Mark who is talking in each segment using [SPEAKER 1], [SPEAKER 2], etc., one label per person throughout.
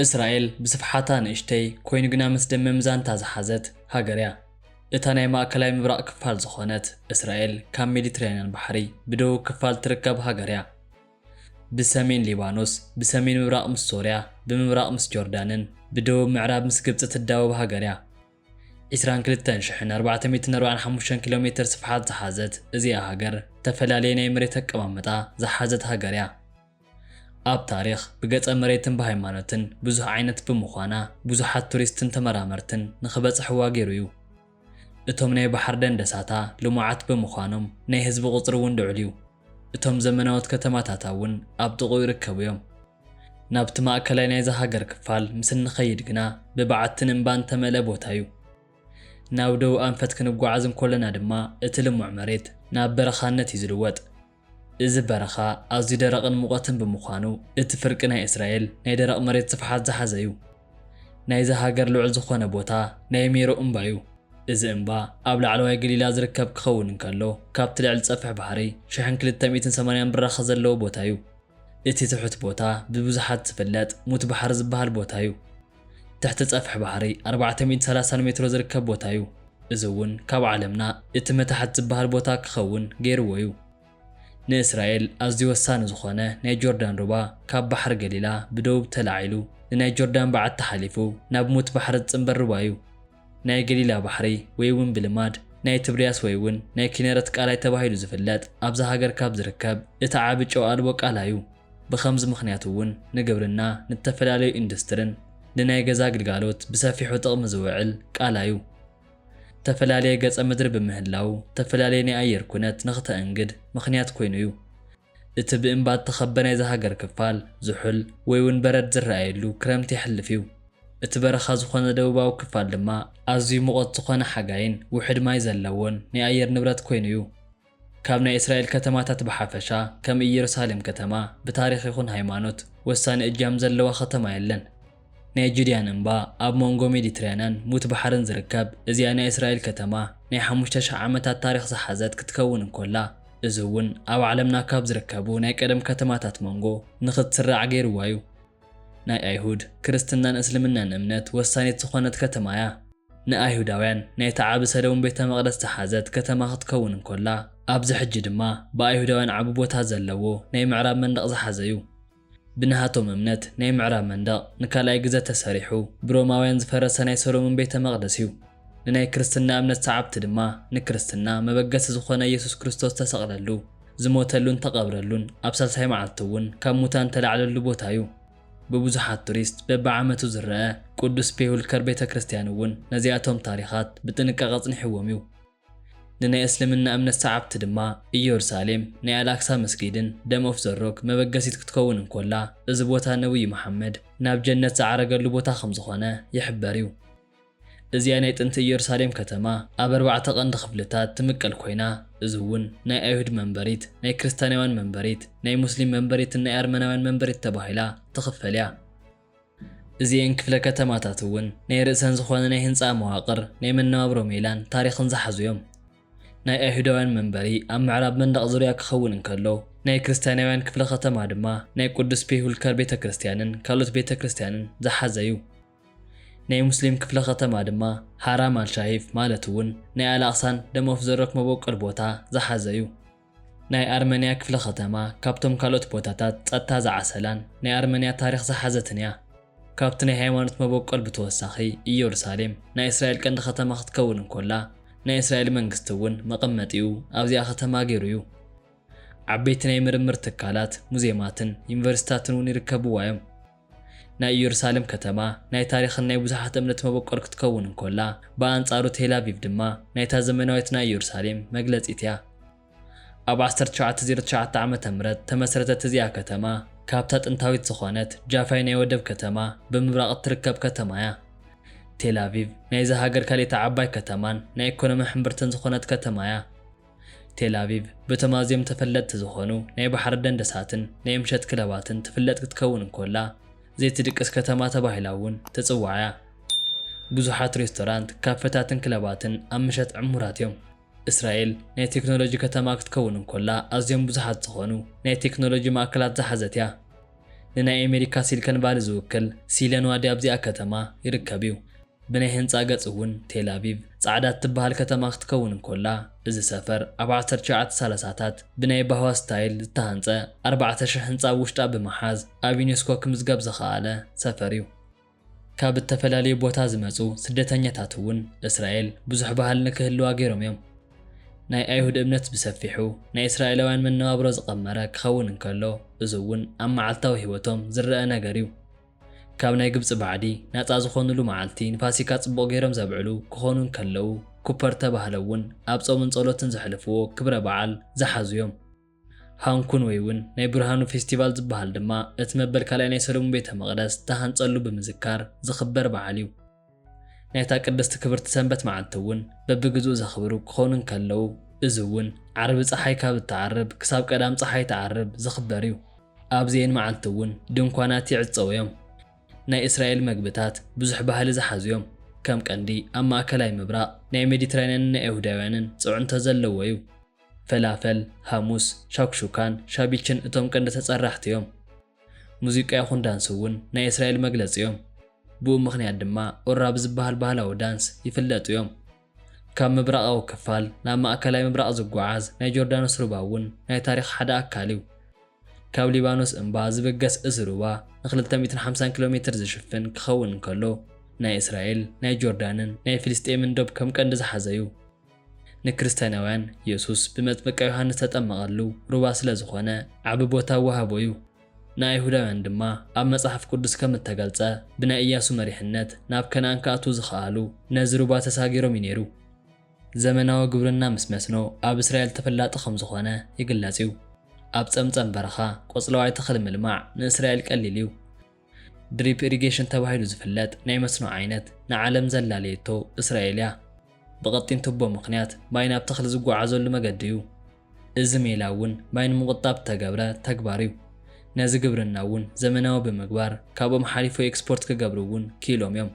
[SPEAKER 1] እስራኤል ብስፍሓታ ንእሽተይ ኮይኑ ግና መስደመም ዛንታ ዝሓዘት ሃገር እያ። እታ ናይ ማእከላይ ምብራቕ ክፋል ዝኾነት እስራኤል ካብ ሜዲትራንያን ባሕሪ ብደቡብ ክፋል ትርከብ ሃገር እያ። ብሰሜን ሊባኖስ፣ ብሰሜን ምብራቕ ምስ ሶርያ፣ ብምብራቕ ምስ ጆርዳንን ብደቡብ ምዕራብ ምስ ግብጺ ትዳወብ ሃገር እያ። ዒስራን ክልተን ሽሕን ኣርባዕተ ሚእትን ኣርባዓን ሓሙሽተን ኪሎ ሜተር ስፍሓት ዝሓዘት እዚኣ ሃገር እተፈላለየ ናይ መሬት ኣቀማምጣ ዝሓዘት ሃገር እያ። ኣብ ታሪኽ፣ ብገፀ መሬትን ብሃይማኖትን ብዙሕ ዓይነት ብምዃና ብዙሓት ቱሪስትን ተመራመርትን ንክበፅሕዋ ገይሩ እዩ። እቶም ናይ ባሕሪ ደንደሳታ ልሙዓት ብምዃኖም ናይ ህዝቢ ቁፅሪ እውን ልዑል እዩ። እቶም ዘመናዎት ከተማታታ እውን ኣብ ጥቕኡ ይርከቡ እዮም። ናብቲ ማእከላይ ናይዛ ሃገር ክፋል ምስ እንኸይድ ግና ብበዓትን እምባን እተመልአ ቦታ እዩ። ናብ ደቡብ ኣንፈት ክንጓዓዝ እንኮለና ድማ እቲ ልሙዕ መሬት ናብ በረኻነት እዩ ዝልወጥ። እዚ በረኻ ኣዝዩ ደረቕን ሙቐትን ብምዃኑ እቲ ፍርቂ ናይ እስራኤል ናይ ደረቕ መሬት ስፍሓት ዝሓዘ እዩ። ናይዛ ሃገር ልዑል ዝኾነ ቦታ ናይ ሜሮ እምባ እዩ። እዚ እምባ ኣብ ላዕለዋይ ገሊላ ዝርከብ ክኸውን እንከሎ ካብቲ ልዕሊ ጸፍሒ ባሕሪ ሽሕን ክልተ ሚእትን ሰማንያን ብራኸ ዘለዎ ቦታ እዩ። እቲ ትሑት ቦታ ብብዙሓት ዝፍለጥ ሙት ባሕሪ ዝበሃል ቦታ እዩ። ትሕቲ ፀፍሒ ባሕሪ ኣርባዕተ ሚእቲ ሰላሳን ሜትሮ ዝርከብ ቦታ እዩ። እዚ እውን ካብ ዓለምና እቲ መታሕት ዝበሃል ቦታ ክኸውን ገይርዎ እዩ። ንእስራኤል ኣዝዩ ወሳኒ ዝኾነ ናይ ጆርዳን ሩባ ካብ ባሕሪ ገሊላ ብደቡብ ተላዒሉ ንናይ ጆርዳን በዓቲ ሓሊፉ ናብ ሙት ባሕሪ ዝፅምበር ሩባ እዩ። ናይ ገሊላ ባሕሪ ወይውን ብልማድ ናይ ትብርያስ ወይውን ናይ ኪነረት ቃላይ ተባሂሉ ዝፍለጥ ኣብዛ ሃገር ካብ ዝርከብ እቲ ዓቢ ጨው ኣልቦ ቃላይ'ዩ። ብኸምዚ ምኽንያት'ውን ንግብርና፣ ንተፈላለዩ ኢንዱስትርን ንናይ ገዛ ግልጋሎት ብሰፊሑ ጥቕሚ ዝውዕል ቃላይ'ዩ። ተፈላለየ ገጸ ምድሪ ብምህላዉ ተፈላለየ ናይ ኣየር ኩነት ንክተእንግድ ምኽንያት ኮይኑ'ዩ። እቲ ብእምባ እተኸበ ናይዛ ሃገር ክፋል፣ ዝሑል ወይ እውን በረድ ዝረኣየሉ ክረምቲ የሕልፍ እዩ። እቲ በረኻ ዝዀነ ደቡባዊ ክፋል ድማ ኣዝዩ ምቖት ዝዀነ ሓጋይን ውሑድ ማይ ዘለዎን ናይ ኣየር ንብረት ኰይኑ እዩ። ካብ ናይ እስራኤል ከተማታት ብሓፈሻ፣ ከም ኢየሩሳሌም ከተማ፣ ብታሪኽ ይኹን ሃይማኖት ወሳኒ እጃም ዘለዋ ከተማ የለን። ናይ ጁድያን እምባ ኣብ ሞንጎ ሜዲትራንያን ሙት ባሕርን ዝርከብ እዚኣ ናይ እስራኤል ከተማ ናይ ሓሙሽተ ሽሕ ዓመታት ታሪኽ ዝሓዘት ክትከውን እንኮላ እዚ እውን ኣብ ዓለምና ካብ ዝርከቡ ናይ ቀደም ከተማታት ሞንጎ ንኽትስራዕ ገይርዋ እዩ። ናይ ኣይሁድ፣ ክርስትናን እስልምናን እምነት ወሳኒት ዝኾነት ከተማ እያ። ንኣይሁዳውያን ናይቲ ዓቢ ሰለሙን ቤተ መቕደስ ዝሓዘት ከተማ ክትከውን እንኮላ ኣብዚ ሕጂ ድማ ብኣይሁዳውያን ዓቢ ቦታ ዘለዎ ናይ ምዕራብ መንደቕ ዝሓዘ እዩ። ብናሃቶም እምነት ናይ ምዕራብ መንደቕ ንካልኣይ ግዘ ተሰሪሑ ብሮማውያን ዝፈረሰ ናይ ሰሎሙን ቤተ መቕደስ እዩ። ንናይ ክርስትና እምነት ሰዓብቲ ድማ ንክርስትና መበገሲ ዝኾነ ኢየሱስ ክርስቶስ ዝተሰቕለሉ፣ ዝሞተሉን ተቐብረሉን ኣብ ሳልሳይ መዓልቲ እውን ካብ ሙታን ዝተላዕለሉ ቦታ እዩ። ብብዙሓት ቱሪስት በብዓመቱ ዝረኣ ቅዱስ ፔሁልከር ቤተ ክርስቲያን እውን ነዚኣቶም ታሪኻት ብጥንቃቐ ኣፅኒሕዎም እዩ። ንናይ እስልምና እምነት ሰዓብቲ ድማ ኢዮርሳሌም ናይ ኣልኣክሳ መስጊድን ደም ኦፍ ዘ ሮክ መበገሲት ክትከውን እንኮላ እዚ ቦታ ነብዩ መሓመድ ናብ ጀነት ዝዓረገሉ ቦታ ከምዝኾነ ይሕበር እዩ። እዚኣ ናይ ጥንቲ ኢዮርሳሌም ከተማ ኣብ ኣርባዕተ ቀንዲ ክፍልታት ትምቀል ኮይና እዚ እውን ናይ ኣይሁድ መንበሪት፣ ናይ ክርስታንያውያን መንበሪት፣ ናይ ሙስሊም መንበሪትን ናይ ኣርመናውያን መንበሪት ተባሂላ ትኽፈል እያ። እዚኤን ክፍለ ከተማታት እውን ናይ ርእሰን ዝኾነ ናይ ህንጻ መዋቕር፣ ናይ መነባብሮ ሜላን ታሪኽን ዝሓዙ እዮም። ናይ ኣይሁዳውያን መንበሪ ኣብ ምዕራብ መንደቕ ዙርያ ክኸውን እንከሎ፣ ናይ ክርስትያናውያን ክፍለ ከተማ ድማ ናይ ቅዱስ ፔሁልከር ቤተ ክርስትያንን ካልኦት ቤተ ክርስትያንን ዝሓዘ እዩ። ናይ ሙስሊም ክፍለ ከተማ ድማ ሃራም ኣል-ሻሂፍ ማለት እውን ናይ ኣል-ኣቕሳን ደም ኦፍ ዘ ሮክ መቦቆል ቦታ ዝሓዘ እዩ። ናይ ኣርመንያ ክፍለ ከተማ ካብቶም ካልኦት ቦታታት ጸጥታ ዝዓሰላን ናይ ኣርመንያ ታሪኽ ዝሓዘትን እያ። ካብቲ ናይ ሃይማኖት መበቆል ብተወሳኺ ኢየሩሳሌም ናይ እስራኤል ቀንዲ ከተማ ክትከውን እንኮላ ናይ እስራኤል መንግስቲ እውን መቐመጢኡ ኣብዚኣ ከተማ ገይሩ እዩ። ዓበይቲ ናይ ምርምር ትካላት፣ ሙዜማትን ዩኒቨርሲቲታትን እውን ይርከብዋ እዮም። ናይ እየሩሳሌም ከተማ ናይ ታሪኽን ናይ ብዙሓት እምነት መበቆል ክትከውን እንኮላ፣ ብኣንጻሩ ቴል ኣቪቭ ድማ ናይታ ዘመናዊት ናይ እየሩሳሌም መግለጺት እያ። ኣብ ዓሰርተ ትሽዓተ ዜሮ ትሽዓተ ዓመተ ምህረት ተመስረተት እዚኣ ከተማ ካብታ ጥንታዊት ዝኾነት ጃፋይ ናይ ወደብ ከተማ ብምብራቕ እትርከብ ከተማ እያ። ቴል ኣቪቭ ናይዛ ሃገር ካልኤታ ዓባይ ከተማን ናይ ኤኮኖሚ ሕምብርትን ዝኾነት ከተማ እያ። ቴልኣቪቭ በቶም ኣዝዮም ተፈለጥቲ ዝዀኑ ናይ ባሕሪ ደንደሳትን ናይ ምሸት ክለባትን ትፍለጥ ክትከውን እንኮላ፣ ዘይትድቅስ ከተማ ተባሂላ እውን ትጽዋዕ እያ። ብዙሓት ሬስቶራንት፣ ካፈታትን ክለባትን ኣብ ምሸት ዕሙራት እዮም። እስራኤል ናይ ቴክኖሎጂ ከተማ ክትከውን እንኮላ፣ ኣዝዮም ብዙሓት ዝዀኑ ናይ ቴክኖሎጂ ማእከላት ዝሓዘት እያ። ንናይ ኣሜሪካ ሲልከን ቫሊ ዝውክል ሲልዮን ዋዲ ኣብዚኣ ከተማ ይርከብ እዩ። ብናይ ህንጻ ገጽ እውን ቴል ኣቪቭ ጻዕዳ እትበሃል ከተማ ክትከውን እንኮላ፣ እዚ ሰፈር ኣብ ዓሰርተ ትሽዓተ ሳላሳታት ብናይ ባህዋ ስታይል ዝተሃንጸ ኣርባዕተ ሽሕ ህንጻ ኣብ ውሽጣ ብምሓዝ ኣብ ዩኔስኮ ክምዝገብ ዝኸኣለ ሰፈር እዩ። ካብ እተፈላለዩ ቦታ ዝመጹ ስደተኛታት እውን እስራኤል ብዙሕ ባህሊ ንክህልዋ ገይሮም እዮም። ናይ ኣይሁድ እምነት ብሰፊሑ ናይ እስራኤላውያን መነባብሮ ዝቐመረ ክኸውን እንከሎ፣ እዚ እውን ኣብ መዓልታዊ ህይወቶም ዝረኣ ነገር እዩ። ካብ ናይ ግብጺ ባዕዲ ናጻ ዝኾኑሉ መዓልቲ ንፋሲካ ጽቡቕ ገይሮም ዘብዕሉ ክኾኑ እንከለዉ፣ ኩፐር እተባህለ እውን ኣብ ጾምን ጸሎትን ዘሕልፍዎ ክብረ በዓል ዝሓዙ እዮም። ሃንኩን ወይውን ናይ ብርሃኑ ፌስቲቫል ዝበሃል ድማ እቲ መበል ካልኣይ ናይ ሰለሙን ቤተ መቕደስ ዝተሃንጸሉ ብምዝካር ዝኽበር በዓል እዩ። ናይታ ቅድስቲ ክብርቲ ሰንበት መዓልቲ እውን በብግዝኡ ዘኽብሩ ክኾኑ እንከለዉ እዚ እውን ዓርቢ ፀሓይ ካብ እትዓርብ ክሳብ ቀዳም ፀሓይ ትዓርብ ዝኽበር እዩ። ኣብዚኤን መዓልቲ እውን ድንኳናት ይዕፀዉ እዮም። ናይ እስራኤል መግብታት ብዙሕ ባህሊ ዝሓዙ እዮም። ከም ቀንዲ ኣብ ማእከላይ ምብራቕ ናይ ሜዲትራንያንን ናይ ኣይሁዳውያንን ፅዕንቶ ዘለዎ እዩ። ፈላፈል፣ ሃሙስ፣ ሻኩሹካን ሻቢችን እቶም ቀንዲ ተፀራሕቲ እዮም። ሙዚቃ ይኹን ዳንስ እውን ናይ እስራኤል መግለፂ እዮም። ብኡ ምኽንያት ድማ ኡራ ብዝበሃል ባህላዊ ዳንስ ይፍለጡ እዮም። ካብ ምብራቓዊ ክፋል ናብ ማእከላይ ምብራቕ ዝጓዓዝ ናይ ጆርዳኖስ ሩባ እውን ናይ ታሪኽ ሓደ ኣካል እዩ። ካብ ሊባኖስ እምባ ዝብገስ እዚ ሩባ ንክልተ ሚእትን ሓምሳን ኪሎ ሜትር ዝሽፍን ክኸውን እንከሎ፣ ናይ እስራኤል፣ ናይ ጆርዳንን ናይ ፍልስጤምን ዶብ ከም ቀንዲ ዝሓዘ እዩ። ንክርስቲያናውያን የሱስ ብመጥምቀ ዮሃንስ ዝተጠመቐሉ ሩባ ስለ ዝዀነ ዓቢ ቦታ ወሃቦ እዩ። ንኣይሁዳውያን ድማ ኣብ መጽሓፍ ቅዱስ ከም እተገልጸ ብናይ እያሱ መሪሕነት ናብ ከነኣን ክኣትዉ ዝኸኣሉ ነዚ ሩባ ተሳጊሮም እዩ ነይሩ። ዘመናዊ ግብርና ምስ መስኖ ኣብ እስራኤል ተፈላጢ ከም ዝዀነ ይግለጽ እዩ። ኣብ ጸምጸም በረኻ ቆጽለዋይ ተኽሊ ምልማዕ ንእስራኤል ቀሊል እዩ። ድሪፕ ኢሪጌሽን ተባሂሉ ዝፍለጥ ናይ መስኖ ዓይነት ንዓለም ዘላለየቶ እስራኤል እያ። ብቐጢን ቱቦ ምኽንያት ማይ ናብ ተኽሊ ዝጓዓዘሉ መገዲ እዩ። እዚ ሜላ እውን ማይ ንምቑጣብ እተገብረ ተግባር እዩ። ነዚ ግብርና እውን ዘመናዊ ብምግባር ካብኦም ሓሊፉ ኤክስፖርት ክገብሩ እውን ክኢሎም እዮም።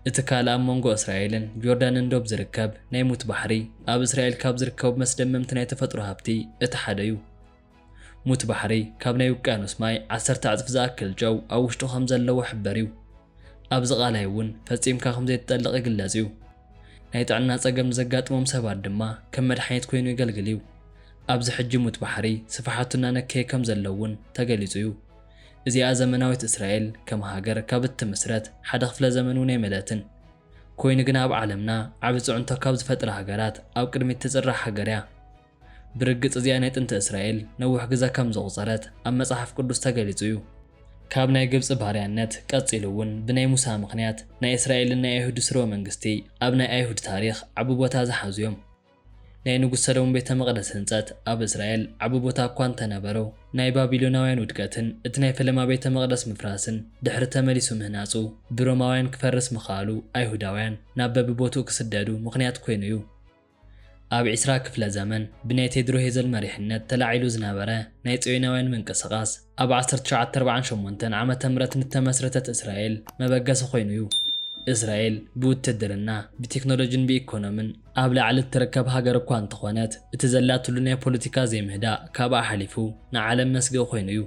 [SPEAKER 1] እቲ ካልእ ኣብ መንጎ እስራኤልን ጆርዳንን ዶብ ዝርከብ ናይ ሙት ባሕሪ ኣብ እስራኤል ካብ ዝርከቡ መስደመምቲ ናይ ተፈጥሮ ሃብቲ እቲ ሓደ እዩ። ሙት ባሕሪ ካብ ናይ ውቅያኖስ ማይ ዓሰርተ ዕጽፊ ዝኣክል ጨው ኣብ ውሽጡ ከም ዘለዎ ሕበር እዩ። ኣብዚ ቃላይ እውን ፈጺምካ ከም ዘይትጠልቕ ይግለጽ እዩ። ናይ ጥዕና ጸገም ንዘጋጥሞም ሰባት ድማ ከም መድሓኒት ኮይኑ የገልግል እዩ። ኣብዚ ሕጂ ሙት ባሕሪ ስፍሓቱ እናነከየ ከም ዘሎ እውን ተገሊጹ እዩ። እዚኣ ዘመናዊት እስራኤል ከም ሃገር ካብ እትምስረት ሓደ ክፍለ ዘመን እውን ኣይመለእትን። ኮይኑ ግና ኣብ ዓለምና ዓቢ ጽዕንቶ ካብ ዝፈጥራ ሃገራት ኣብ ቅድሚት ትጽራዕ ሃገር እያ። ብርግጽ እዚኣ ናይ ጥንቲ እስራኤል ነዊሕ ግዘ ከም ዘቑጸረት ኣብ መጽሓፍ ቅዱስ ተገሊጹ እዩ። ካብ ናይ ግብጺ ባርያነት ቀጺሉ እውን ብናይ ሙሳ ምኽንያት ናይ እስራኤልን ናይ ኣይሁድ ስርወ መንግስቲ ኣብ ናይ ኣይሁድ ታሪኽ ዓቢ ቦታ ዝሓዙ እዮም። ናይ ንጉስ ሰለሙን ቤተ መቕደስ ህንጸት ኣብ እስራኤል ዓቢ ቦታ እኳ እንተ ነበሮ ናይ ባቢሎናውያን ውድቀትን እቲ ናይ ፈለማ ቤተ መቕደስ ምፍራስን ድሕሪ ተመሊሱ ምህናጹ ብሮማውያን ክፈርስ ምኽኣሉ ኣይሁዳውያን ናብ በብቦትኡ ክስደዱ ምኽንያት ኮይኑ እዩ። ኣብ ዕስራ ክፍለ ዘመን ብናይ ቴድሮ ሄዘል መሪሕነት ተላዒሉ ዝነበረ ናይ ጽዮናውያን ምንቅስቓስ፣ ኣብ ዓሰርተ ትሽዓተ ኣርብዓን ሸሞንተን ዓመተ ምህረት ንተመስረተት እስራኤል መበገሲ ኮይኑ እዩ። እስራኤል ብውትድርና፣ ብቴክኖሎጂን ብኢኮኖምን ኣብ ላዕሊ እትርከብ ሃገር እኳ እንተኾነት፣ እቲ ዘላትሉ ናይ ፖለቲካ ዘይምህዳእ ካብኣ ሓሊፉ ንዓለም መስግኢ ኮይኑ እዩ።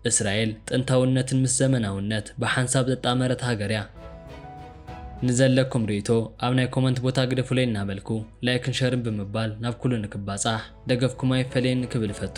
[SPEAKER 1] እስራኤል ጥንታውነትን ምስ ዘመናውነት ብሓንሳብ ዘጣመረት ሃገር እያ። ንዘለኩም ሪኢቶ ኣብ ናይ ኮመንት ቦታ ግደፉለይ እናበልኩ ላይክን ሸርን ብምባል ናብ ኩሉ ንክባፃሕ ደገፍኩም ኣይፈለየኒ ክብል እፈቱ።